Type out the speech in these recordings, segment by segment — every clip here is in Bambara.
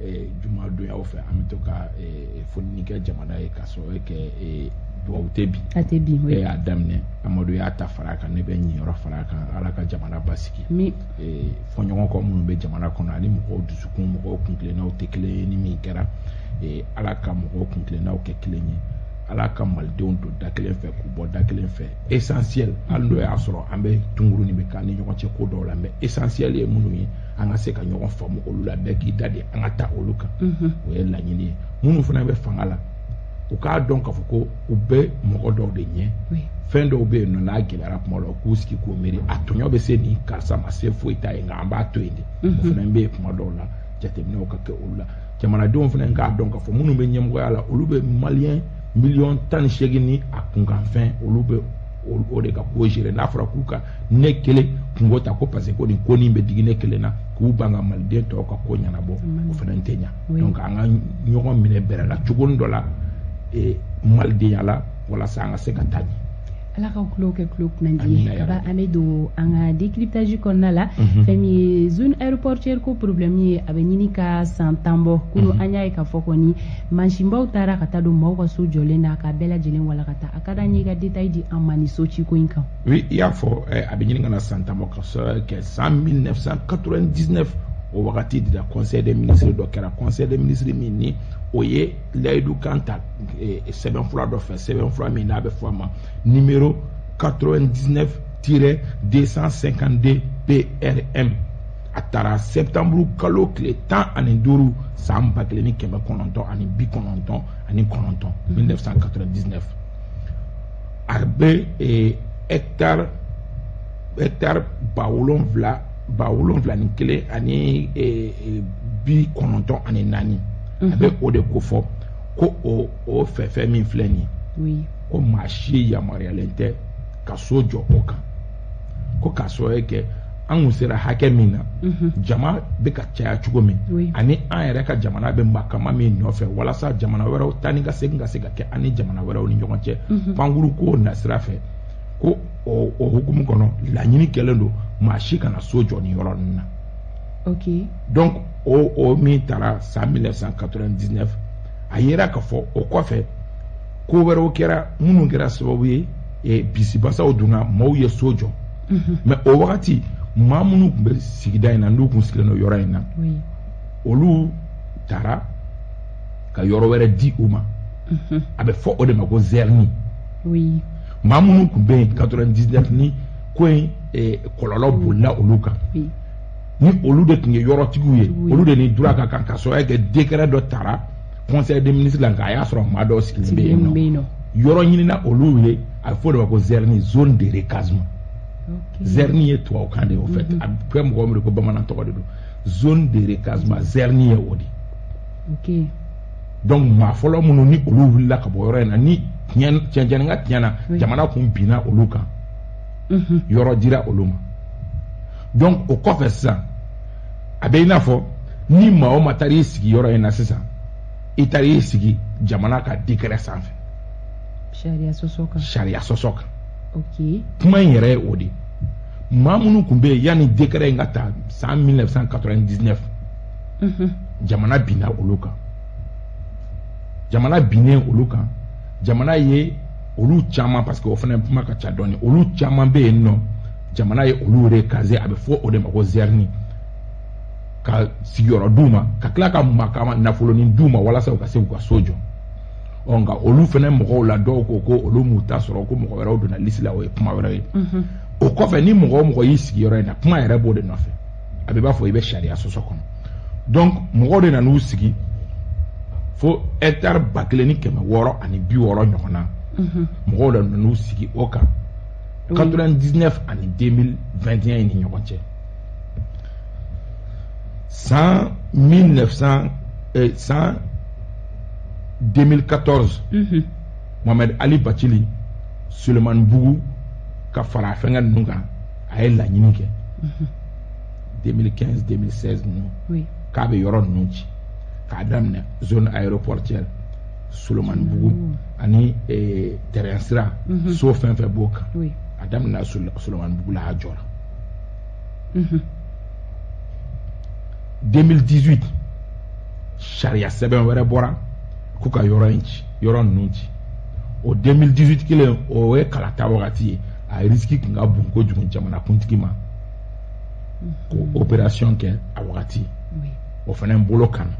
eh, juma donyaw fɛ an bɛ to ka eh, foni kɛ jamana ye k'a sababu kɛ eh, dugawu tɛ bi a tɛ bi e y'a daminɛ amadu y'a ta fara kan ne bɛ niyɔrɔ fara kan ala ka jamana basigi fɔɲɔgɔnkɔ minnu bɛ jamana kɔnɔ ani mɔgɔw dusukun mɔgɔw kuntilennaw tɛ kelen ye ni min kɛra ala ka mɔgɔw kuntilennaw kɛ kelen ye ala ka malidenw don da kelen fɛ k'u bɔ da kelen fɛ essentiel hali n'o y'a sɔrɔ an bɛ tunkuruni bɛ k'an ni ɲɔgɔn cɛ ko dɔw la mais essentiel ye minnu ye an ka se ka ɲɔgɔn faamu olu la bɛɛ k'i da de an ka taa olu kan o ye laɲini ye minnu fana bɛ fanga la u k'a dɔn k'a fɔ ko u bɛ mɔgɔ dɔw de ɲɛ fɛn dɔw bɛ yen nɔ n'a gɛlɛyara kuma la u k'u sigi k'u miiri a tɔɲɔ bɛ se nin karisa ma se foyi t'a ye nka an b'a to yen de o fana bɛ yen kuma dɔw la jateminɛw ka kɛ olu la jamanadenw fana k'a dɔn k'a fɔ minnu bɛ ɲɛmɔgɔya la olu bɛ maliyɛn miliyɔn tan ni seegin ni a kunkanfɛn olu bɛ o de ka ko gérer n'a fɔra k'u ka ne kelen kunko ta ko parce que ko nin ko nin bɛ digi ne kelen na k'u ban ka maliden tɔw ka ko ɲɛnabɔ o fana tɛ ɲa donc an ka ɲɔgɔn minɛ bɛrɛ la cogonin dɔ la e, malidenya la walasa an ka se ka taa ɲɛ ala ka kulo kɛ kulo kunandi ye ka ba an bɛ don an ka décryptage kɔnɔna la mhm. fɛn min ye zone aéroportuaire ko problème ye a bɛ ɲini ka san tan bɔ kunu mhm. an y'a ye k'a fɔ kɔni mansinbaw taara ka taa don maaw ka so jɔlen na k'a bɛɛ lajɛlen walakata a ka d'an ye i ka détail di an ma nin so ciko in kan oui i y'a fɔ eh, a bɛ ɲini ka na san tan bɔ k'a sabu kɛ san 1999 o wagati de la conseil des ministres dɔ kɛra conseil des ministres min ni o ye layidukan ta eh, sɛbɛnfura dɔ fɛ sɛbɛnfura min n'a bɛ fɔ a ma numéro 99-252 PRM a taara sɛtanburu kalo tile tan ani duuru san ba kelen ni kɛmɛ kɔnɔntɔn ani bi kɔnɔntɔn ani kɔnɔntɔn 1999 a bɛ eh, hectare hectare ba wolonwula ba wolonwula ni kelen ani eh, eh, bi kɔnɔntɔn ani naani a bɛ mhm. o de ko fɔ ko o o fɛfɛ min filɛ nin ye ko maa si yamaruyalen tɛ ka so jɔ o kan ko k'a sabu kɛ an kun sera hakɛ min na jama bɛ ka caya cogo min ani an yɛrɛ ka jamana bɛ makama min nɔfɛ walasa jamana wɛrɛw taa ni ka segin ka se ka kɛ an ni jamana wɛrɛw ni ɲɔgɔn cɛ pankurun ko nasira fɛ ko o hukumu kɔnɔ laɲini kɛlen don maa si kana so jɔ nin yɔrɔ ninnu na donc o min taara san 1999 a yera k'a fɔ o kɔfɛ ko wɛrɛw kɛra minnu kɛra sababu ye eh, bisibasaw donna maaw ye so jɔ mhm. mais o wagati maa minnu tun bɛ sigida in na n'u tun sigilen don yɔrɔ in na olu taara ka yɔrɔ wɛrɛ di u ma mhm. a bɛ fɔ o de ma ko zɛrini maa minnu tun bɛ yen 99 ni ko in eh, kɔlɔlɔ bolila olu kan ni olu de tun ye yɔrɔtigiw ye olu de ni droit ka kan ka sɔrɔ kɛ décret dɔ tara conseil des ministres la nka a y'a sɔrɔ maa dɔw sigilen bɛ yen nɔ yɔrɔ ɲinina olu ye a bɛ fɔ o de ma ko zɛrini zone de recasement zɛrini ye tubabukan de ye au fait a bɛ kɛ mɔgɔ min ko bamanan tɔgɔ de don zone de recasement zɛrini ye o de donc maa fɔlɔ minnu ni olu wulila ka bɔ yɔrɔ in na ni tiɲɛni ka tiɲɛ na jamana tun binna olu kan yɔrɔ dira olu ma donc o kɔfɛ sisan a bɛ i n'a fɔ ni maa o maa taara i sigi yɔrɔ in na sisan i taara i sigi jamana ka décret sanfɛ sariya sɔsɔ kan sariya sɔsɔ kan okay. kuma in yɛrɛ ye o de ye maa minnu tun bɛ yen yanni décret in ka ta san 1999 mhm. jamana binna olu kan jamana binnen olu kan jamana ye olu caman parce que o fana kuma ka ca dɔɔni olu caman bɛ yen nɔ jamana ye olu recaser a bɛ fɔ o de ma ko zɛrini ka sigiyɔrɔ d'u ma ka tila ka makama nafolonin d'u ma walasa u ka se k'u ka so jɔ ɔ nka olu fana mɔgɔw la dɔw ko ko olu m'u ta sɔrɔ ko mɔgɔ wɛrɛw donna liste la o ye kuma wɛrɛ ye o kɔfɛ ni mɔgɔ o mɔgɔ y'i sigi yɔrɔ in na kuma yɛrɛ b'o de nɔfɛ a bɛ b'a fɔ i bɛ sariya sɔsɔ kɔnɔ donc mɔgɔw de nan'u sigi fo hectare ba kelen ni kɛmɛ wɔɔrɔ ani bi wɔɔrɔ ɲɔgɔn na mhm. mɔgɔw de nan'u sigi o kan 99 ani 2021 in ni ɲɔgɔn cɛ san 1900 eh, san 2014 mhm. Mohamed Ali Bathily Sulemanibugu ka fara fɛnkɛ ninnu kan a ye laɲini kɛ 2015 2016 ninnu k'a bɛ yɔrɔ ninnu ci k'a daminɛ zone aéroportière Solomanibugu mm. ani eh, terrain sira mm-hmm. so fɛn fɛn b'o kan a daminɛna Solomanibugu la a jɔra 2018 mm-hmm. sariya sɛbɛn wɛrɛ bɔra k'u ka yɔrɔ in ci yɔrɔ ninnu ci o 2018 kelen o ye kalata wagati ye a risiki tun ka bon kojugu jamanakuntigi ma k'o mhm. opération kɛ a wagati o fana bolo kan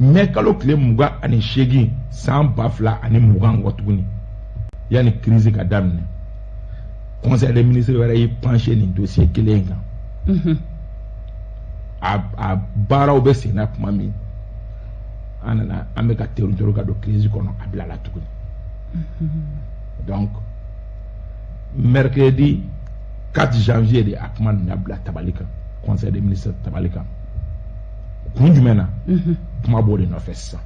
mɛ kalo tile mugan ani seegin san ba fila ani mugan kɔ tuguni yanni crise ka daminɛ conseil des ministres wɛrɛ y'i pencher nin dossier kelen in kan mhm. a a baaraw bɛ sen na tuma min an nana an bɛ ka teritɔri ka don crise kɔnɔ a bilala tuguni mhm. donc mercredi 4 janvier de a kuma nana bila tabali kan conseil des ministres tabali kan kun jumɛn na mhm. kuma b'o de nɔfɛ sisan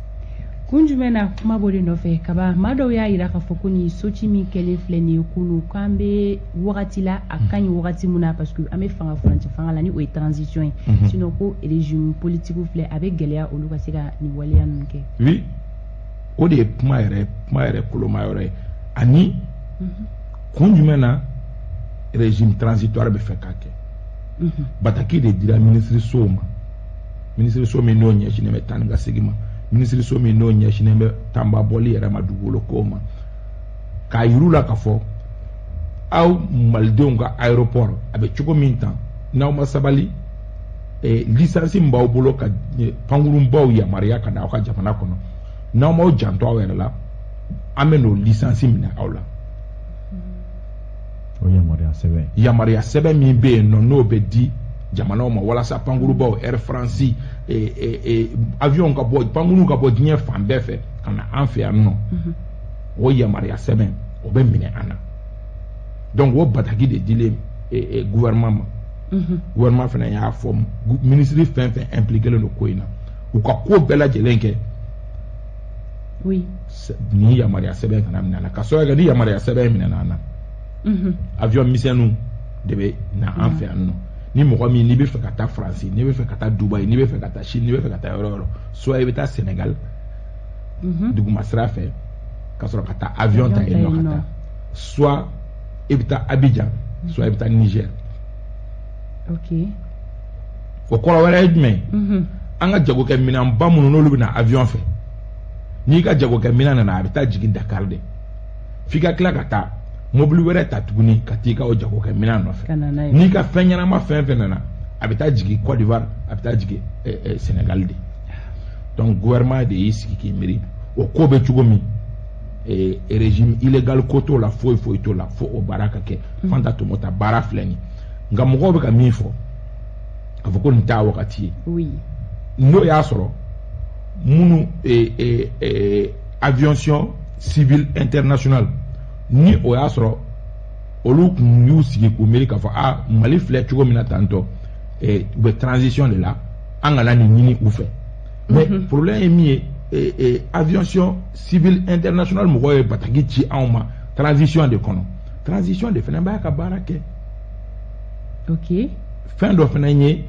kun jumɛn na kuma b'o de nɔfɛ kaba maa dɔw y'a yira k'a fɔ ko nin soci min kɛlen filɛ nin ye kunu k'an bɛ wagati la a ka ɲi mhm. wagati mun na parce que an bɛ fanga furancɛ fanga la ni o ye transition ye mhm. sinon ko régime politique filɛ a bɛ gɛlɛya olu ka se ka nin waleya ninnu kɛ oui o de ye kuma yɛrɛ kuma yɛrɛ koloma yɔrɔ ye ani mhm. kun jumɛn na régime transitoire bɛ fɛ k'a kɛ mhm. bataki de dira minisirisow ma minisiriso min n'o ɲɛsinnen bɛ taa ni ka segin ma minisiriso min n'o ɲɛsinnen bɛ tanba bɔli yɛrɛ ma dugukolo kow ma k'a yir'u la k'a fɔ aw malidenw ka aéroport a bɛ cogo min tan n'aw ma sabali eh, lisansi min b'aw bolo ka eh, pankurunbaw yamaruya ka na aw ka jamana kɔnɔ n'aw m'aw janto aw yɛrɛ la an bɛ n'o lisansi minɛ aw la o yamaruya sɛbɛn yamaruya sɛbɛn min bɛ yen nɔ n'o bɛ di jamanaw ma walasa pankurubaw air france e, e, e, avion ka bɔ pankuru ka bɔ diɲɛ fan bɛɛ fɛ ka na an fɛ yan nɔ mhm. o yamaruya sɛbɛn o bɛ minɛ an na donc o bataki de dilen gouvernement ma mhm. gouvernement fana y'a fɔ minisiri fɛn fɛn impliqué len don ko in na u ka ko bɛɛ lajɛlen kɛ oui nin yamaruya sɛbɛn kana minɛ an na k'a sababu kɛ ni yamaruya sɛbɛn minɛna an na mhm. avion misɛnninw de bɛ na an fɛ yan nɔ ni mɔgɔ min n'i bɛ fɛ ka taa faransi n'i bɛ fɛ ka taa dubayi n'i bɛ fɛ ka taa chine n'i bɛ fɛ ka taa yɔrɔ yɔrɔ soit i bɛ taa senegal mhm. duguma sira fɛ ka sɔrɔ ka taa avion ta yen nɔ ka taa soit i bɛ taa abidjan soit i bɛ taa niger o kɔrɔ wɛrɛ ye jumɛn mhm. an ka jagokɛ minɛn ba minnu n'olu bɛ na avion fɛ n'i ka jagokɛ minɛn nana a bɛ taa jigin dakari de f'i ka tila ka taa mobili wɛrɛ ta tuguni ka t'i ka o jagokɛ minɛn nɔfɛ n'i ka fɛn ɲɛnama fɛn fɛn nana a bɛ taa jigin Côte d'Ivoire a bɛ taa jigin eh, eh, Sénégal de donc gouvernement de y'i sigi k'i miiri o ko bɛ cogo min ee régime illégal ko t'o la foyi foyi t'o la fo o baara ka kɛ hmm. fanta tomota baara filɛ nin nka mɔgɔw bɛ ka min fɔ k'a fɔ ko nin t'a wagati ye oui. n'o y'a sɔrɔ minnu ee, ee, ee, aviation civile internationale ni o y'a sɔrɔ olu tun y'u sigi k'u miiri k'a fɔ a mali filɛ cogo min na tantɔ u bɛ transition de la an kana nin ɲini u fɛ mais problème ye min ye eh, eh, aviation civile internationale mɔgɔw ye bataki ci anw ma transition de kɔnɔ transition de fana b'a ka baara kɛ ok fɛn dɔ fana ye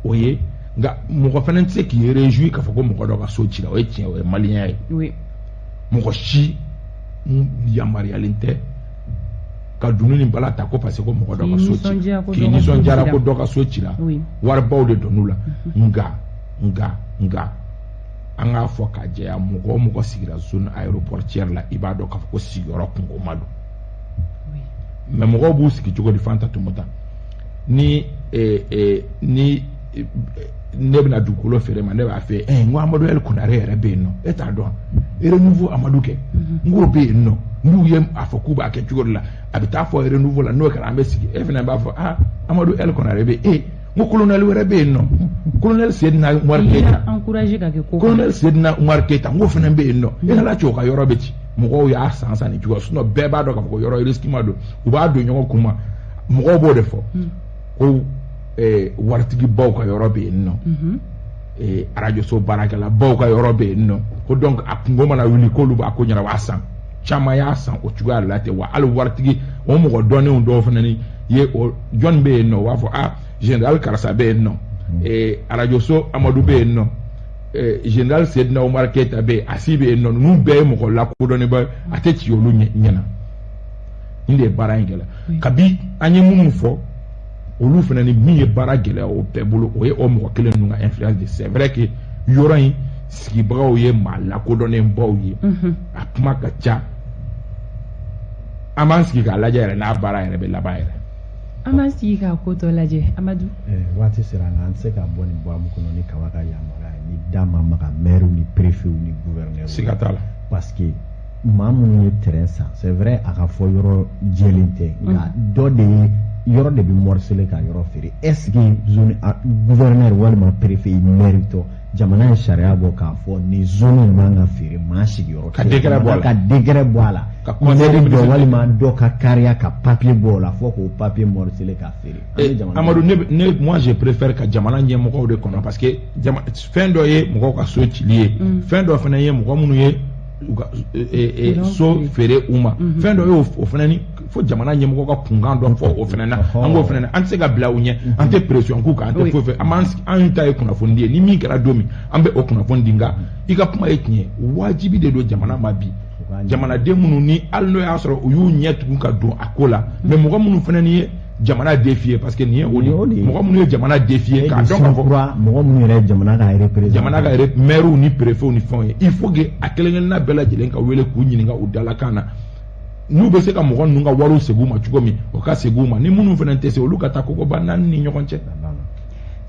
o ye nka mɔgɔ fana tɛ se k'i réjouir k'a fɔ ko mɔgɔ dɔ ka so cira o ye tiɲɛ o ye maliyɛnya ye oui mɔgɔ si yamaruyalen tɛ ka dunun ni bala ta ko parce que ko mɔgɔ dɔ ka so cira k'i nisɔndiyara ko dɔ ka so cira waribaw de donn'u la nka nka nka an k'a fɔ k'a jɛya mɔgɔ o mɔgɔ sigira zone aéroportière la i b'a dɔn k'a fɔ ko sigiyɔrɔ kunkoma don mais mɔgɔw b'u sigi cogo di fanta tomota ni eh, eh, ni eh, ne bɛna dugukolo feere e ma ne b'a fɔ e ye n ko amadu ɛl kunare yɛrɛ bɛ yen nɔ e t'a dɔn renouveau amadu kɛ mhm. n k'o bɛ yen nɔ n'u ye a fɔ k'u b'a kɛ cogo de la a bɛ taa fɔ renouveau la n'o kɛra an bɛ sigi e fana b'a fɔ aa amadu ɛl kunare bɛ e n ko kolonɛli wɛrɛ bɛ yen nɔ kolonɛli sedina umaru keyita kolonɛli sedina umaru keyita n ko fana bɛ yen nɔ e ɲɛna cɛ o ka yɔrɔ bɛ ci mɔgɔw y'a san san nin cogo sinon bɛɛ b'a dɔn k'a fɔ ko yɔrɔ risikima don u b'a don ɲɔgɔn kun ma mɔgɔw b'o de fɔ hmm. ko eh, waritigibaw ka yɔrɔ bɛ yen nɔ hmm. eh, arajoso baarakɛlabaw ka yɔrɔ bɛ yen nɔ ko donc a kunko mana wuli k'olu b'a ko ɲɛnabɔ a san caman y'a san o cogoya de la ten wa hali waritigi o mɔgɔ dɔnnenw dɔw fana ni ye o jɔn bɛ yen nɔ o b'a fɔ ah general karisa bɛ yen nɔ ee arajoso amadu bɛ yen nɔ ee general sedina umar keyita bɛ yen asi bɛ yen nɔ ninnu bɛɛ ye mɔgɔ lakodɔnnenbaw ye a tɛ ci olu ɲɛ na nin de ye baara in gɛlɛya kabi an ye minnu fɔ olu fana ni min ye baara gɛlɛya o bɛɛ bolo o ye o mɔgɔ kelen ninnu ka influence de c'est vrai que yɔrɔ in sigibagaw ye maa lakodɔnnenbaw ye mhm. a kuma ka ca an b'an sigi k'a lajɛ yɛrɛ n'a baara yɛrɛ bɛ laban yɛrɛ an b'an sigi k'a ko tɔ lajɛ amadu eh, waati sera nka an tɛ se ka bɔ nin bɔ amu kɔnɔ ni kaba ka yamaruya ye n'i da ma maga mɛriw ni perefew ni guvɛrinɛriw siga t'a la parce que maa minnu ye terrain san c'est vrai a ka fɔ yɔrɔ jɛlen tɛ nka mhm. dɔ de ye yɔrɔ de bɛ morisele ka yɔrɔ feere est ce que zone guvɛrinɛri walima perefe mɛri tɔ jamana ye sariya bɔ k'a fɔ nin zone in man ka feere maa sigiyɔrɔ ka décret bɔ a la ka décret bɔ a la ka conseil dɔ walima dɔ ka kariya ka papiye bɔ o la fɔ k'o papiye mɔrisele k'a feere eh, amadu ne ne moi je préfère ka jamana ɲɛmɔgɔw de kɔnɔ parce que fɛn dɔ ye mɔgɔw ka so cili ye mm. fɛn dɔ fana ye mɔgɔ minnu ye u ka e, e, e, so feere u ma mhm. fɛn dɔ ye o fana ni fo jamana ɲɛmɔgɔ ka kunkan dɔ fɔ o fana na an k'o fana na an tɛ se ka bila u ɲɛ mhm. an tɛ pression k'u kan an tɛ foyi fɛ an b'an an ta ye kunnafoni di ye ni min kɛra don min an bɛ o kunnafoni di nka mhm. i ka kuma ye tiɲɛ wajibi de don jamana ma bi jamanaden minnu ni hali n'o y'a sɔrɔ u y'u ɲɛ tugun ka don a ko la mais mɔgɔ minnu fana ni ye jamana défier parce que nin ye o de ye mɔgɔ minnu ye jamana défier k'a dɔn k'a fɔ mɔgɔ minnu yɛrɛ jamana ka représenter jamana ka maires ni préfets ni fɛnw ye il faut que a kelen kelenna bɛɛ lajɛlen ka wele k'u ɲininka u dalakan na n'u bɛ se ka mɔgɔ ninnu ka wariw segin u ma cogo min o ka segin u ma ni minnu fana tɛ se olu ka taa kogoba naani ni ɲɔgɔn cɛ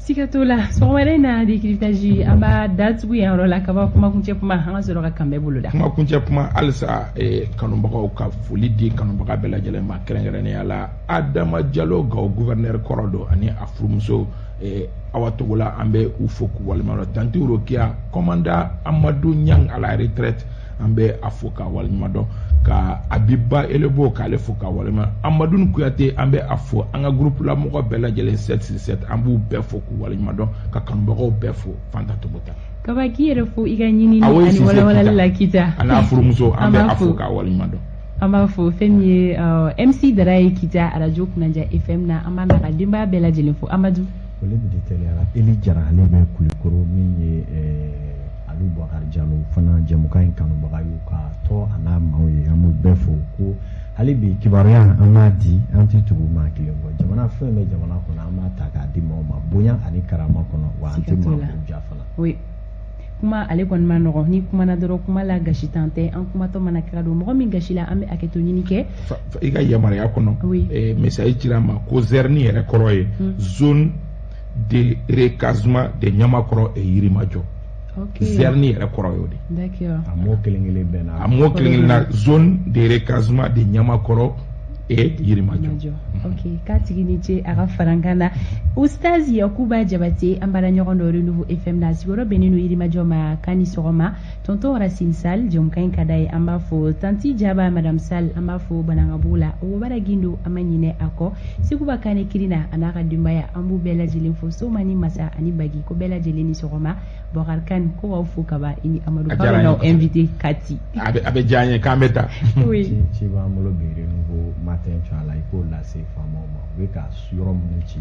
siga t'o la sɔgɔmada in na décryptage an b'a datugu yan yɔrɔ la kaba kumakuncɛ kuma an ka sɔrɔ ka kanbɛn boloda kumakuncɛ kuma halisa eh, kanubagaw ka foli di kanubaga bɛɛ lajɛlen ma kɛrɛnkɛrɛnnenya la adama jalo gawo gouverneur kɔrɔ don ani a furumuso eh, awa togola an bɛ u fo k'u waleɲuman dɔn tanti rokiya commandant amadu ɲang à la retraite an bɛ a fo k'a waleɲuman dɔn ka abiba elebo k'ale fo k'a waleɲuman amadu kuyate an bɛ a fo an ka groupe la mɔgɔ bɛɛ lajɛlen sept six sept an b'u bɛɛ fo k'u waleɲuman dɔn ka kanubagaw bɛɛ fo fanta togo ta kaba k'i yɛrɛ fo i ka ɲinini ani walawalali la kita a n'a furumuso an bɛ a fo k'a waleɲuman dɔn an b'a fo fɛn min ye uh, mc dara ye kita arajo kunnaja fm na an b'a n'a ka denbaya bɛɛ lajɛlen fo amadu foli min di tɛliyara eli jara ale bɛ kulikoro min ye eh, ani bakari jalo fana jɛmukan in kanubaga y'u ka tɔ a n'a maaw ye an b'u bɛɛ fo ko hali bi kibaruya an b'a di an tɛ tugu maa kelen kɔ jamana fɛn bɛ jamana kɔnɔ an b'a ta k'a di maaw ma bonya ani karama kɔnɔ wa an tɛ maa ja fana kuma ale kɔni ma nɔgɔ n'i kumana dɔrɔn kuma la gasintan tɛ an kumatɔ mana kɛ ka don mɔgɔ min gasi la an bɛ hakɛto ɲini kɛ i ka yamaruya kɔnɔ message cira n ma ko zɛrini yɛrɛ kɔrɔ ye hmm. zone de recasement de Niamakɔrɔ et Yirimajɔ. Okay. Zerni yɛrɛ kɔrɔ y'o de. D'accord. A mot kelen kelen bɛɛ na. A mot kelen kelen na zone de recasement de Niamakɔrɔ et Yirimajɔ. Mm-hmm. Ok, k'a tigi ni ce a ka farankan na. Ustaz Yakuba Jabate an baara ɲɔgɔn don Renouveau FM na a sigiyɔrɔ bɛnnen don Yirimajɔ ma k'a ni sɔgɔma. tonton racine sal jɛmukan in ka d'a ye an b'a fo tanti jaba madame sal an b'a fo banankabugu la wobara gindo an ma ɲinɛ a kɔ sekuba kane kirina a n'a ka denbaya an b'u bɛɛ lajɛlen fo soma ni masa ani bagi ko bɛɛ lajɛlen ni sɔgɔma bɔkari kane ko b'aw fo kaba i ni amadu k'aw bɛ n'aw invité kati a bɛ diya an ye k'an bɛ ta ci b'an bolo bi renouveau matin tu as la i k'o lase faamaw ma u bɛ ka yɔrɔ minnu ci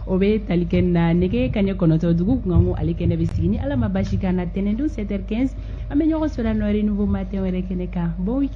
o bɛ tali kɛ na nɛgɛ kaɲɛ kɔnɔntɔ dugu kunkanko ale kɛnɛ bɛ sigi ni ala ma baasi k'an na tɛnɛndon 7 heures 15 an bɛ ɲɔgɔn sɔrɔ yan nɔ renouveau matin wɛrɛ kɛnɛ kan bon week-end